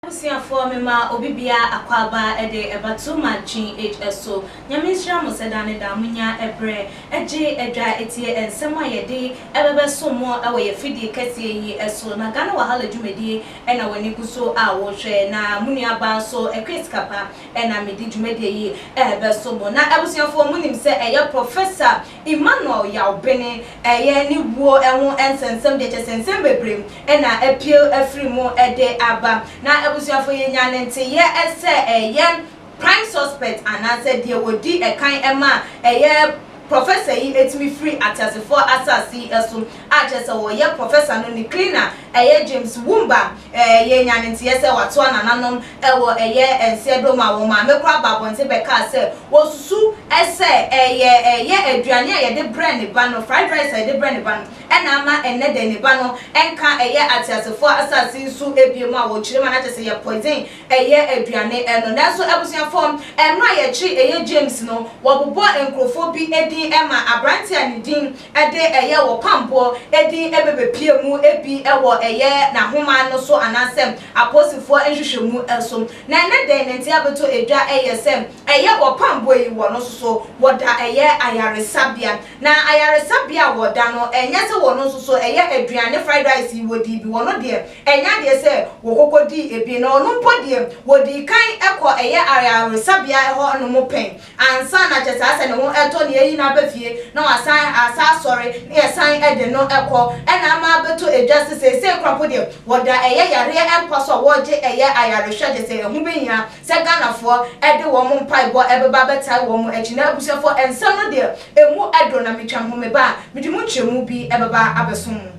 Abusuafoɔ mema obi biara akwaaba de ba to ma GH so. Nyame nhyira mo sɛ daa ne daa mo nya ɛberɛ gye adwa tie nsɛm a yɛde bɛbɛso mo wɔ yɛ fidie kɛseɛ yi so na Ghana Wahala dwumadie na w'ani gu so a wohwɛ, na mo nuabaa nso kɔɛ sika pa na mede dwumadie yi rebɛso mo. Na abusuafoɔ mo nim sɛ ɛyɛ Professor Emmanuel Yaw Bene yɛ ne wuo ho nsɛnsɛm deɛ kyɛ sɛ nsɛm bebree na apue afiri mu de aba. Na abusuafoɔ yɛnya ne nteyeɛ sɛ ɛyɛ Prime suspect anaasɛ deɛ wɔdi ɛkan ma a ɛyɛ Professor yi tumi firi ateasefoɔ asase yi so a kyerɛ sɛ wɔyɛ Professor no ne cleaner ɛyɛ James Wumba ɛɛ yɛnya ne nteɛ sɛ watoa nananom wɔ ɛyɛ nseɛdom a wɔn maame koraa baa abɔnten bɛkaa sɛ wɔsusu sɛ ɛyɛ ɛyɛ aduane a yɛde brɛ ne ba no fried rice a yɛde brɛ ne ba no na ama ɛnnɛ dɛn ne ba no nka ɛyɛ ateasefoɔ asase yi so bio mu a wɔkyerɛ mu a na kyerɛ sɛ ɛyɛ poison Ɛyɛ aduane ɛno nanso abusuafoɔ mmerɛ a yɛkye ɛyɛ James no wɔbobɔ nkorɔfoɔ bi din ma abranteɛ a ne din de ɛyɛ wɔpamboɔ din bɛbɛpie mu ebi wɔ ɛyɛ nahoma no so anaasɛ aposifoɔ nhwehwɛmu so na ɛnɛ dɛn ne nti abɛtɔ dwa ɛyɛ sɛ ɛyɛ wɔpamboɔ yi wɔ no soso wɔda ɛyɛ ayaresabea Na ayaresabea a wɔda no, ɛnyɛ sɛ wɔn nso so ɛyɛ aduane fried rice yi wɔdii bi, wɔn deɛ ɛnyɛ adeɛ sɛ wɔkɔkɔ dii ebi, na ɔno mpo deɛ wɔdii kan kɔ ɛyɛ ayaresabea hɔ nom pɛn ansa na kyerɛ sɛ asɛ ne ho ɛtɔ na yɛyi no aba fie na wasan asan asɔre na yɛsan de no kɔ ɛna ama abɛtɔ edwa sɛ seesei koraa mpo deɛ wɔda ɛyɛ yareɛ mpa so a wɔregye ɛyɛ ayarehwɛ kyerɛ sɛ ɛho bɛhia Sɛ Ghanafoɔ de wɔn mpaebɔ bɛba abɛtae wɔn akyi na abusuafoɔ nsɛm no deɛ ɛmu dɔ na metwa ho meba a, mede mu nkyerɛmu bi bɛba abɛsom mo.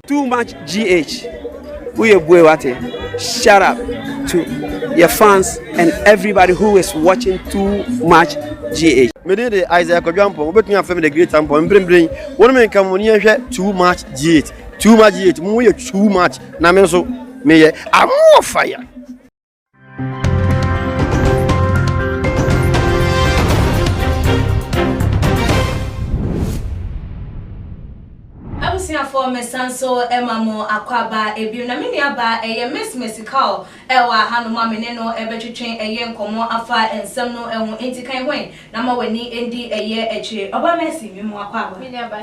Too much GH woyɛ bue wate shut up to yɛ fans and everybody who is watching too much GH. Me din de Isaiah Kwadu Ampong wobɛtumi afrɛ me the great Ampong mprempren wo ne me nka mo ne yɛnhwɛ too much GH too much GH mo yɛ too much na me nso meyɛ I'm more fire. Abusuafoɔ mesan so ma mo akwaaba bio na me nuabaa ɛyɛ Miss Mesical ɛwɔ ahanom a me ne no ɛbɛtwetwe ɛyɛ nkɔmmɔ afa nsɛm no ɛho enti kan hwan na ma w'ani ɛndi ɛyɛ akyire. Ɔbaa Mercy, me mo akwaaba. Me nuabaa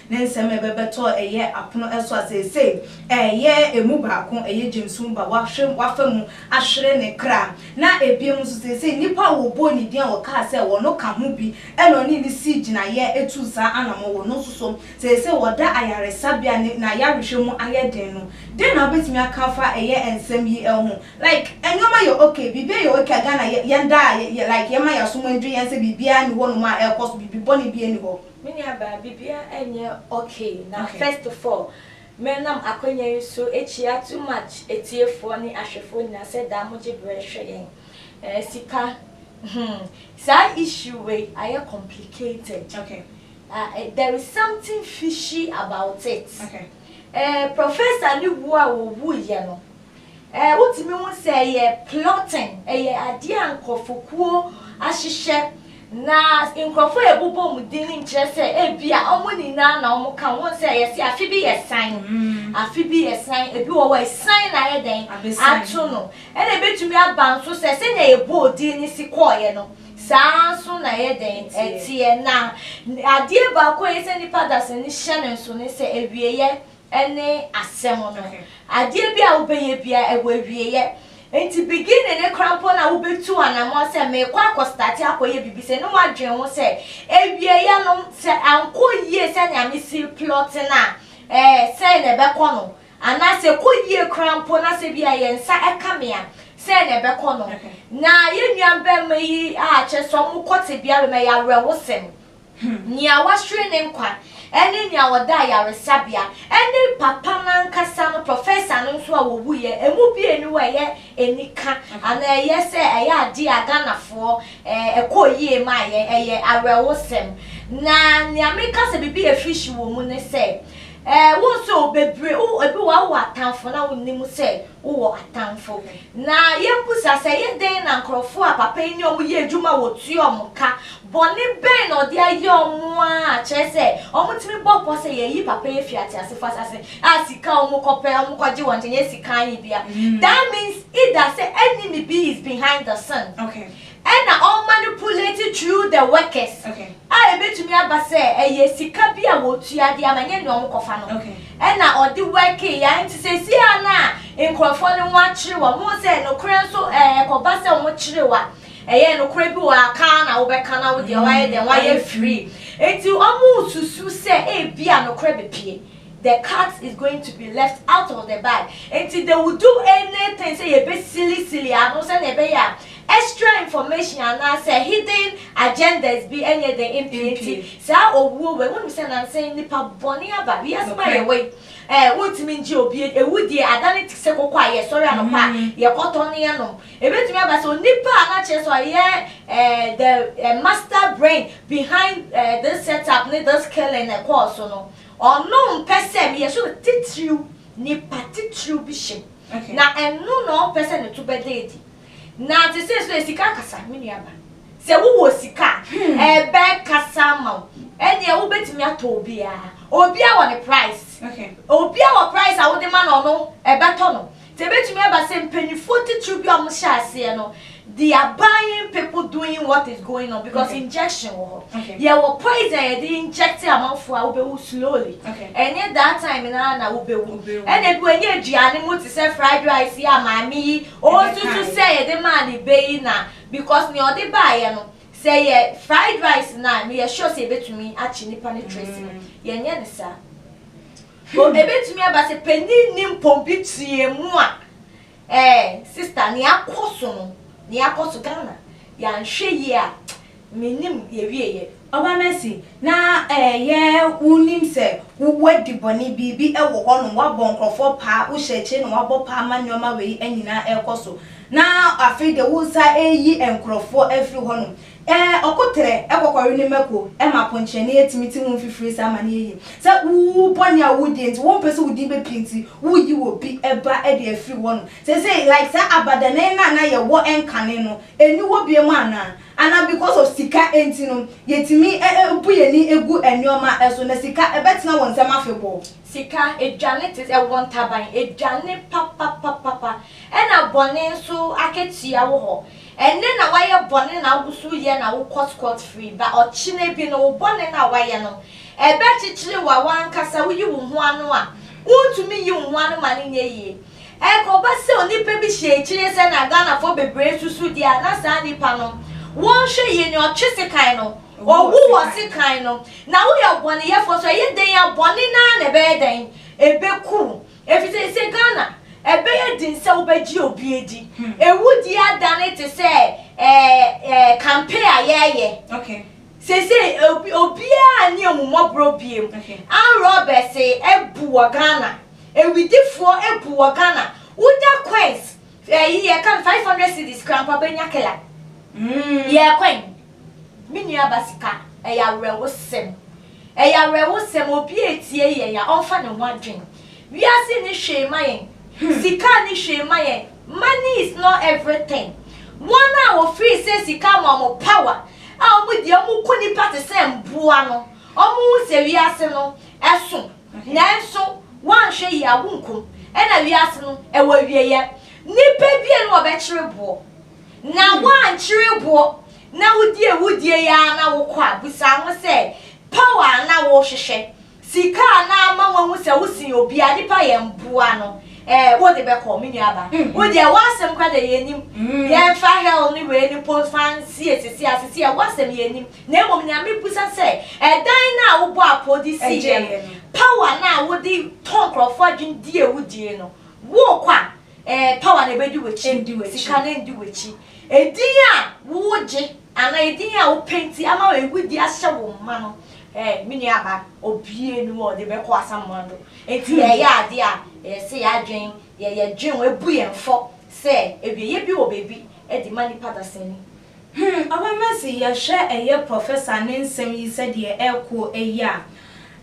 Ne nsɛm ɛbɛbɛtɔ ɛyɛ apono ɛso a seesei ɛɛyɛ ɛmu baako, ɛyɛ gyamsum ba, wahwe, wafa mu ahwere ne kra. Na ɛbiem nso seesei nnipa a wɔbɔɔ ne din a wɔkaa sɛ wɔno ka ho bi ɛna ɔne no sii gyinaeɛ ɛtuu saa anamɔn, wɔno nso so seesei wɔda ayaresabea ne n'ayarehwɛ mu ayɛ den no. Dɛn na wobɛtumi aka afa ɛyɛ nsɛm yi ɛho? Like nneɛma yɛ ok, biribiara yɛ ok a Ghana yɛ, yɛn daa yɛ, like yɛma yɛasom adwiri yɛn sɛ biribiara nni hɔnom a ɛrekɔ so, biribi bɔne biara nni hɔ. Me nua baa biribiara ɛnyɛ ok na first of all me nam akwanya yi so ɛkyia too much atiefoɔ ne ahwɛfoɔ nyinaa sɛ daa mo gye berɛ hwɛ yɛn ɛɛ sika hmm saa issue wei ayɛ complicated ah there is something fishy about it ɛɛ professor no wuo a ɔwuiɛ no. Eh, wotumi hu sɛ ɛyɛ plotting, ɛyɛ adeɛ a nkorɔfokuo ahyehyɛ, na nkorɔfoɔ a ɛbobɔ wɔn din no nkyerɛ sɛ ebia wɔn nyinaa na wɔn ka ho, wohu sɛ yɛse afe bi yɛ san, afe bi yɛ san, ebi wɔ hɔ a ɛsan na ayɛ dɛn ato no, ɛna ɛbɛtumi aba nso sɛ sɛnea yɛbɔɔ din no si kɔeɛ no, saa ara nso na ɛyɛ dɛn ɛteɛ, na adeɛ baako a ɛyɛ sɛ nnipa dasani hyɛ no nso ne sɛ awieɛ ɛne asɛm no. Adeɛ biara a wobɛyɛ biara, ɛwɔ awieɛ. Enti beginning no koraa mpo no a wobɛtu anamɔn sɛ merekɔ akɔ starte akɔyɛ biribi sei no, woadwene ho sɛ awieɛ no sɛ ankɔ yie sɛnea mesi replɔte no a, eh, sɛn na ɛbɛkɔ no? Anaa sɛ ɛkɔ yie koraa mpo na sɛ ebia yɛn nsa ka me a, sɛn na ɛbɛkɔ no? Na yɛn nuabarima yi a kyerɛ sɛ wɔkɔ tebea wei mu, ɛyɛ awerɛhosɛm. Nea wahwere ne nkwa ne nea ɔda ayaresabea ne papa no ankasa no prɔfɛsa no nso a wɔwuiɛ. Ɛmu bi nni hɔ a ɛyɛ anika anaa ɛyɛ sɛ ɛyɛ adeɛ a Ghanafoɔ ɛkɔɔ yie maa yɛn. Ɛyɛ awerɛhosɛm. Na nea meka sɛ biribi yɛ fishy wɔ mu ne sɛ, wohu sɛ bebree, ebi wɔ hɔ a wowɔ atamfo na wonnim sɛ Wowɔ atamfo? Na yemmisa sɛ ɛyɛ dɛn na nkurɔfo a papa yi ne wɔn yɛ adwuma a wɔtua wɔn ka? Bɔne bɛn na ɔde ayɛ wɔn a kyerɛ sɛ wɔtumi bɔ pɔ sɛ yɛayi papa yi afi ateasefo asase a sika a wɔkɔpɛ a wɔkɔgye wɔn nkyɛn, ɛnyɛ sika ayebea. That means either sɛ enemy bi is behind the sin. Okay. Ɛnna ɔmanipulate through the workers, a ebetumi aba sɛ ɛyɛ sika bi a wotua de ama, ɛnyɛ nea wɔkɔfa no, ɛnna ɔde workee yɛ. Enti seesei a na nkurɔfoɔ no ho akyere wɔn, mohu sɛ nokorɛ nso ɛ, ɛkɔba sɛ wɔkyere wo a, ɛyɛ nokorɛ bi wɔ ha, ka ara na wobɛka na wo deɛ woayɛ dɛn, woayɛ free. Enti wɔresusu sɛ ebia nokorɛ bepue, the cat is going to be left out of the bag, enti they will do anything sɛ yɛbɛsilisili ano sɛdeɛ ɛbɛyɛ a Extra information anaa sɛ hidden agendas bi nyɛ den mpue nti saa owuo wei wonim sɛ nansa yi nipa bɔne aba wiase mu a yɛwɔ yi ɛɛ wontumi ngye obi adi awudie adane te sɛ koko a yɛsɔre anɔpa a yɛkɔtɔ ne yɛnom ɛbɛtumi aba sɛ onipa a na kyerɛ sɛ ɔyɛ ɛɛ the ɛɛ master brain behind ɛɛ this set up ne this killing ɛkɔɔ so no ɔno mpɛ sɛ meyɛ sure sɛ titiriw nipa titiriw bi hyem na ɛno na ɔmpɛ sɛ ne to bɛda adi. Na te sɛ so ɛ sika kasa, me nua ba. Sɛ wo wɔ sika a, ɛbɛ kasa ama wo. Ɛneɛ wo bɛ tumi atɔ obiaa. Obia wɔ ne price. Obia wɔ price a wo de ma no ɔno ɛbɛ tɔ no. Nti ɛbɛ tumi aba sɛ mpaninfoɔ titiriw bi a ɔmo hyɛ aseɛ no, they are buying people doing what is going on because injection wɔ hɔ. Yɛ wɔ poison a yɛde inject amanfoɔ a wo bɛ wu slowly. Ɛnyɛ that time no ara na wo bɛ wu. Ɛna bi wɔ ɛnyɛ aduane mu te sɛ fried rice yi a maame yi Ɔsusu sɛ yɛde maa ne bɛ yi na because nea ɔde baeɛ no sɛ ɛyɛ fried rice no a meyɛ sure sɛ yɛbɛtumi akye nipa no trace no. Yɛnyɛ no saa. O ɛbɛtumi aba sɛ panin nni mpompi tuiɛ mu a ɛɛ sister nea akɔ so no nea akɔ so Ghana yɛanhwɛ yie a Me nim yɛwie yɛ. Ɔba mɛsi na ɛyɛ wo nim sɛ wo wadi bɔne biribi wɔ hɔ nom wabɔ nkorɔfoɔ paa wo hyɛ akyire na wabɔ paa ma nnoɔma wei nyinaa ɛkɔ so na afei deɛ wo sa ɛyi nkorɔfoɔ afiri hɔ nom ɛɛ ɔko trɛ ɛkɔkɔre ne mako ɛma ponkyerɛni ɛtumi te ho mfifiri saa ma no yɛ yie sɛ wo bɔne a wo die nti wo mpɛ sɛ wo din bɛ pie nti wo yi wɔ bi ɛba ɛde afiri hɔ nom seisei like saa abadanan no a na yɛ wɔ ɛnkane no ɛni hɔ biom anaa. Anaa because of sika nti no yɛtumi bu yɛn ani gu nnoɔma so na sika bɛtena wɔn nsam afebɔɔ. Sika, aduane te, ɛwɔ ntaban, aduane papapapapa, ɛna bɔne nso akatua wo hɔ. Ɛnnɛ na wayɛ bɔne na woso yɛ na wokɔ scot free, but ɔkyena bi no wo bɔne no a wayɛ no ɛbɛkyekyere wo a wankasa woyi wo ho ano a wontumi nyi wo ho ano ma no nyɛ yie. Ɛrekɔba sɛ onipa bi hyɛ akyire sɛnea Ghanafoɔ bebree susu deɛ a, na saa nipa no, wɔnhwɛ yie no, ɔtwe sekan no, ɔwu wɔ sekan no. Na woyɛ ɔbɔneyɛfoɔ nso a, ɛyɛ dɛn a bɔne no ara na ɛbɛyɛ dɛn? Ɛbɛku wo. Ɛfiri sɛ seesei Ghana, ɛbɛyɛ den sɛ wobɛgye obi adi. Awudie adane te sɛ ɛɛ ɛɛ kampe a yɛreyɛ. Seisei obi obiaa nni ahummɔborɔ biem. Arm robbers abu wɔ Ghana. Awidifoɔ abu wɔ Ghana. Woda coins ɛyi yɛka no five hundred cedis koraa mpo a bɛnya killer. Yɛɛ kwan. Me nua ba sika ɛyɛ awerɛhosɛm. Ɛyɛ awerɛhosɛm obi a etie yɛn a ɔmfa ne ho adwene. Wiase nni hwee mma yɛn, sika nni hwee mma yɛn, money is not everything. Wɔn a wɔfiri sɛ sika ama wɔn power a wɔn deɛ wɔn ko nnipa te sɛ mmoa no, wɔn hu sɛ wiase no ɛso, nanso wɔanhwɛ yie a wonkum, ɛna wiase no ɛwɔ awieɛ. Nnipa bie na wɔbɛkyere boɔ, na wɔankyere boɔ na wodi awudie yi ara na wokɔ a, busa ho sɛ power a na wohwehwɛ Sika a na ama wɔahu sɛ wosen obi a nipa yɛ mboa no eh wode bɛkɔ me nua ba wo deɛ w'asɛm kora deɛ yɛnim yɛmfa hell ne wei no mpo mfa nsie sese a sese a w'asɛm yɛnim na mmom nea mebisa sɛ ɛdan no a wobɔ apoo de siiɛ no power no a wode tɔ nkorɔfoɔ adwene di a wodie no wokɔ a eh power no ɛbɛdi w'akyi sika no ɛndi w'akyi ɛdin a wogye Anaa edin a wopɛ nti ama ewu de ahyɛ wo mma no. Ɛ, me nuaba, obue ne mu a ɔde bɛkɔ asamoah do. Enti yɛyɛ ade a, ɛyɛ sɛ yɛadwen, yɛ, yɛdwen, wɔabu yɛn fɔ sɛ awieyɛ bi wɔ baabi de ma nnipa dasani. Hmm, Ɔbɛma se yɛhwɛ ɛyɛ Professor ne nsɛm yi sɛdeɛ ɛrekɔ yi a,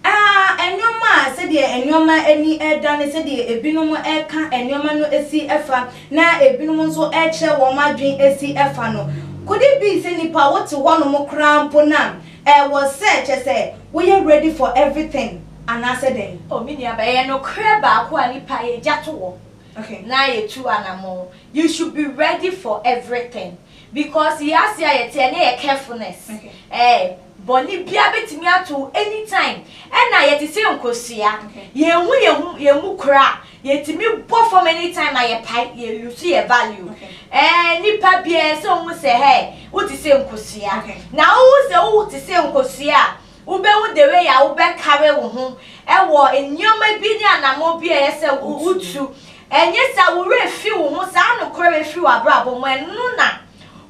A Nneɛma a sɛdeɛ nneɛma ani reda ne sɛdeɛ ebinom reka nneɛma no si fa na ebinom nso rekyerɛ wɔn adwene si fa no, could it be sɛ nnipa wote hɔnom koraa mpo na ɛwɔ sɛ kyerɛ sɛ woyɛ ready for everything anaasɛ dɛn? Oh me nua ba, ɛyɛ nokorɛ baako a nnipa yɛgya to hɔ na yɛtu anammɔn, you should be ready for everything. Because yɛ ase a yɛte ɛnɛ yɛ carefulness eh Bɔne biara bɛtumi ato wo anytime Ɛna yɛte sɛ nkosua Yɛnhu yɛn ho yɛn mu koraa Yɛtumi bɔ fam anytime na yɛpae Yɛ loose yɛ value eh Nnipa biara ɛsɛ ɔhu sɛ hey Wote sɛ nkosua Na wohu sɛ wote sɛ nkosua a Wubehu dɛwei a wobɛkari wo ho wɔ nneɛma bi ne anammɔn bi a ɛyɛ sɛ wutu. Ɛnyɛ saa, wo werɛ fi wo ho, saa nokorɛ wei firi w'abrabɔ mu. Ɛno na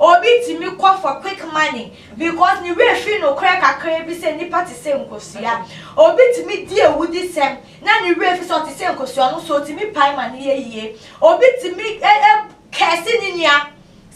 obi tumi kɔ for quick money because ne werɛ firi nokorɛ kakraa bi sɛ nnipa te sɛ nkosua. Obi tumi di awudisɛm na ne werɛ fi sɛ ɔte sɛ nkosua no so, otumi pae ma no yɛ yie. Obi tumi curse ne nua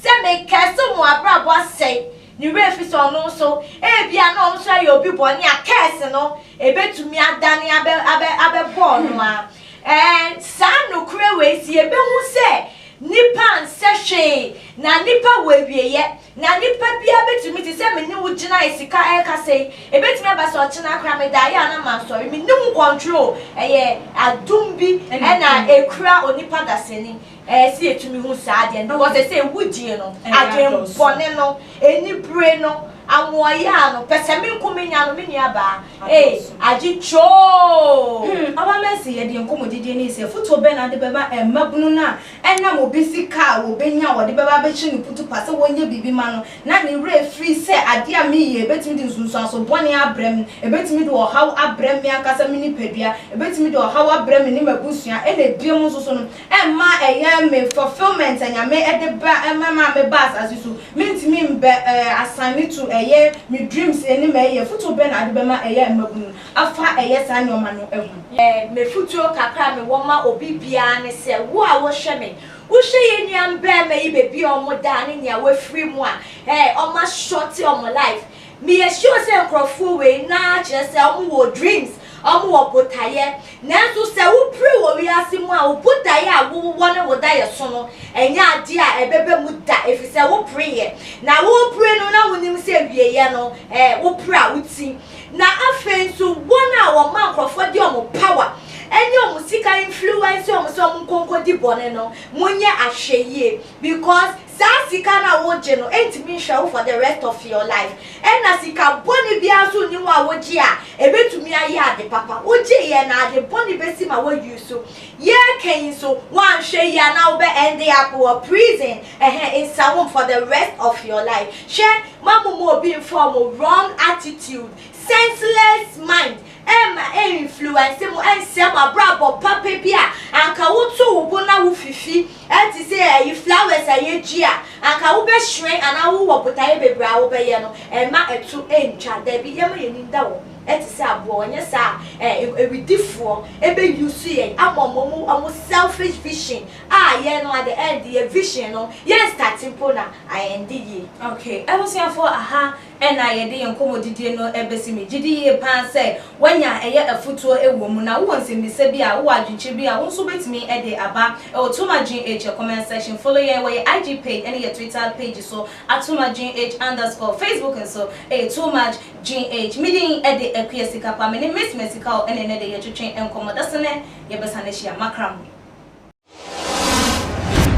Sɛ me curse mo abrabɔ asɛe ne werɛ efisɛ ɔno nso ebia na ɔno nso ɛyɛ obi bɔne a curse no ebetumi adane abɛ abɛ abɛbɔ ɔno ara. Ɛɛ saa nokorɛ wei si ebehu sɛ nipa nsɛ hwee na nipa wɔ awieɛ na nipa biara betumi te sɛ me ne wo gyinae sika ɛrekasa yi ebetumi aba sɛ ɔkyena koraa me daeɛ a na mansɔre me nni ho control ɛyɛ adum bi ɛna ekura onipa dasani Ɛɛ sɛ yɛtumi hu saa adeɛ no, because ɛsɛ awudie no, adwenbɔne no, anibire no, amoayaa no, pɛsɛmenkomenya no, me nuabaa, ee, agye kyoo! Hmm, Aba Mercy, yɛ deɛ nkɔmmɔdidie no yi sɛ, afotuo bɛn na wode bɛma mmabunu no a ɛnam obi sika a wɔbɛnya a wɔde bɛba abɛhyɛ no kutupa sɛ wɔnyɛ biribi mma no na ne werɛ afiri sɛ adeɛ a meyɛ ɛbɛtumi de nsunsuanso bɔne abrɛ me, ɛbɛtumi de ɔhaw abrɛ me ankasa me nipadua, ɛbɛtumi de ɔhaw abrɛ me ne m'abusua, ɛna ɛbiam nso so no, ɛmma ɛyɛ me fulfilment anyame ɛde ba ɛma me a me ba asase so mentumi mbɛ ɛɛ asan me to ɛyɛ me dreams ɛnim ɛyɛ futuo bɛn na ade bɛma ɛyɛ mmabunu afa ɛyɛ saa nnoɔma no ɛho. Me futuo kakra a me wɔ ma obi biara ne sɛ wo a wo hwɛ me wo hwɛ yɛ nua mbɛɛma yi bɛbi a ɔmo da ne nea wafiri mu a ɛɛ ɔmo a shorte ɔmo life Meyɛ sure sɛ nkorɔfoɔ wei naa kyerɛ sɛ ɔmo wɔ dreams, ɔmo wɔ botaeɛ. Nanso sɛ wo pire wɔ wiase mu a, wo botaeɛ a wo wɔ ne wo daeɛ so no ɛnyɛ adeɛ a ɛbɛba mu da efisɛ wo pireeɛ. Na wo pire no na wo nim sɛ awieɛ no eh wo pire a wo ti. Na afei nso wɔn a wɔma nkorɔfoɔ de wɔn power ɛne wɔn sika influence wɔn sɛ wɔn nkɔ nkɔdi bɔne no mo nyɛ ahwɛyie because Saa sika no a wogye no ntumi nhwɛ wo for the rest of your life. Ɛna sika bɔne biara nso nni ho a wogye a ɛbɛtumi ayɛ ade papa. Wogyeeɛ na ade bɔne bɛsi ma woayi so. Yɛreka yi nso, woanhwɛ yie a na wobɛ end up wɔ prison, ɛhɛ, nsawom for the rest of your life. Hwɛ, ma momma obi mfa wɔn wrong attitude, senseless mind, Ɛremma ɛnfluense mo, ɛnsɛe mo abrabɔ papa bi a anka woto wo bo na wofifi te sɛ ayi flowers a yɛdwi a anka wobɛhyerɛn anaa wowɔ botaeɛ bebree a wobɛyɛ no, ɛmma ɛto ɛntwa. Dabi, yɛmma yɛn ani nda hɔ te sɛ aboɔ, anyɛ saa a awidifoɔ bɛ use yɛn ama wɔn wɔn wɔn selfish vision a yɛn no at the end yɛn vision no yɛn starte mpo na a ɛnde yie. Okay, abusuafoɔ, aha Ɛna yɛde yɛn nkɔmmɔdidie no bɛsi. Me gyedi yie pa ara sɛ woanya ɛyɛ afutuo wɔ mu. Na wowɔ nsɛmmisa bi a, wowɔ adwenkyerɛ bi a, wo nso wobɛtumi de aba wɔ Tom Adwene H comment section. Follow yɛn wɔ yɛn IG page ne yɛn Twitter page so at tomadweneh underscore. Facebook nso yɛ tomadweneh. Me din de Akua Sikapa. Me ne Miss Mɛsikao na ɛnnɛ de yɛretwetwe nkɔmmɔ. Da so nnɛ yɛbɛsane ahyia. Makra mo.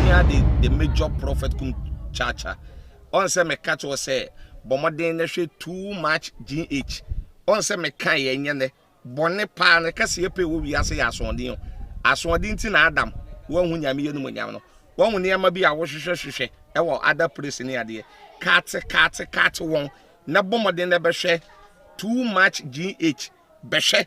Yɛhia the the major prophet kum chacha. Ɔn sɛ meka kyerɛ sɛ bɔ mmɔden na hwɛ too much GH. Ɔn sɛ meka yɛ nyɛ nɛ bɔne paa no kɛse yɛ pɛ wɔ wiase yɛ asoɔden o. Asoɔden ti na Adam wɔahu nyame yɛ no mu nyam no. Wɔn nneɛma bi a wohwehwɛ hwehwɛ ɛwɔ other place ne adeɛ. Kate kate kate wɔn na bɔ mmɔden na bɛhwɛ too much GH. Bɛhwɛ.